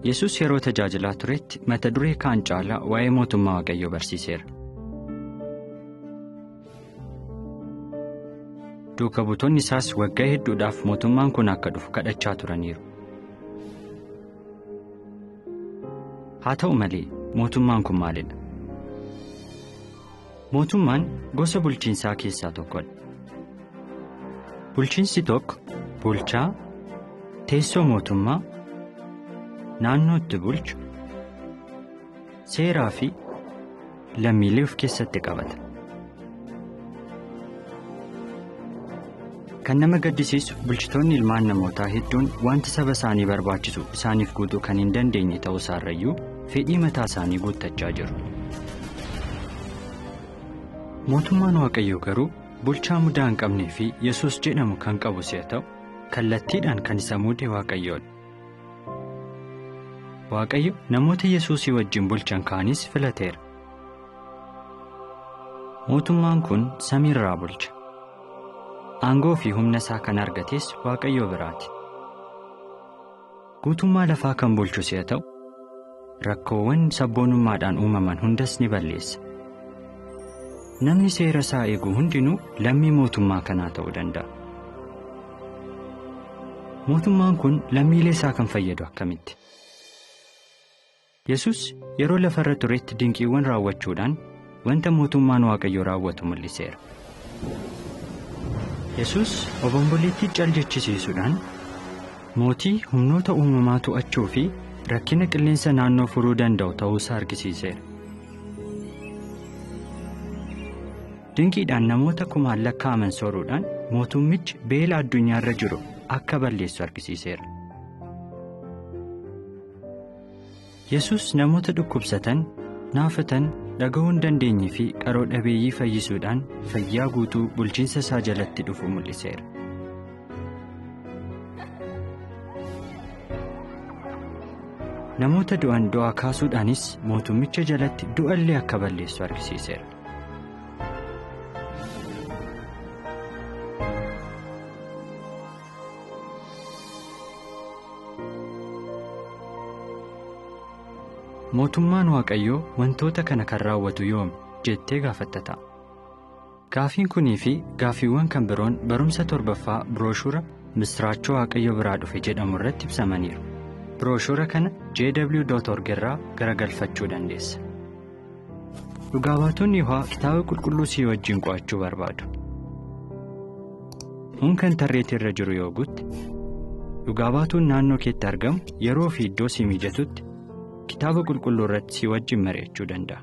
Yesus yeroo tajaajilaa turetti mata duree kaan caalaa waa'ee mootummaa Waaqayyoo barsiiseera. Duuka buutonni isaas waggaa hedduudhaaf mootummaan kun akka dhufu kadhachaa turaniiru. Haa ta'u malee mootummaan kun maalidha? Mootummaan gosa bulchiinsaa keessaa tokkodha. Bulchiinsi tokko bulchaa, teessoo mootummaa, naannoo itti bulchu, seeraa fi lammiilee of keessatti qabata. Kan nama gaddisiisu bulchitoonni ilmaan namootaa hedduun wanti saba isaanii barbaachisu isaaniif guutuu kan hin dandeenye ta'uu isaarrayyuu fedhii mataa isaanii guuttachaa jiru. Mootummaan Waaqayyoo garuu bulchaa mudaa hin qabnee fi Yesuus jedhamu kan qabu si'a ta'u kallattiidhaan kan isa muude Waaqayyoodha. Waaqayyo namoota Yesuusii wajjin bulchan kaanis filateera. Mootummaan kun samiirraa bulcha. Aangoo fi humna isaa kan argates Waaqayyoo biraati. Guutummaa lafaa kan bulchu si'a ta'u, rakkoowwan sabboonummaadhaan uumaman hundas ni balleessa. Namni seera isaa eegu hundinuu lammii mootummaa kanaa ta'uu danda'a. Mootummaan kun lammiilee isaa kan fayyadu akkamitti? Yesus yeroo lafa irra turetti dinqiiwwan raawwachuudhaan wanta mootummaan Waaqayyoo raawwatu mul'iseera. Yesus obomboleettii cal jechisiisuudhaan mootii humnoota uumamaa to'achuu fi rakkina qilleensa naannoo furuu danda'u ta'uusaa argisiiseera. Dinqiidhaan namoota kumaan lakkaa'aman sooruudhaan mootummichi beela addunyaarra jiru akka balleessu argisiiseera. Yesus namoota dhukkubsatan, naafatan, dhaga'uu hin dandeenye fi qaroo dhabeeyyii fayyisuudhaan fayyaa guutuu bulchiinsa isaa jalatti dhufu mul'iseera. Namoota du'an du'aa kaasuudhaanis mootummicha jalatti du'a illee akka balleessu argisiiseera. Mootummaan Waaqayyoo wantoota kana kan raawwatu yoomi jettee gaafatta ta'a. Gaafiin kunii fi gaafiiwwan kan biroon barumsa torbaffaa birooshura Misraachoo Waaqayyo biraa dhufe jedhamu irratti ibsamaniiru. Birooshura kana jw.org irraa garagalfachuu dandeessa. Dhugaa baatonni Yihowaa kitaaba qulqulluu sii wajjin qo'achuu barbaadu. Unkan tarreetii irra jiru yoo guutte, dhugaa baatuun naannoo keetti argamu yeroo fi iddoo sii mijatutti kitaaba qulqulluu irratti sii wajjin mari'achuu danda'a.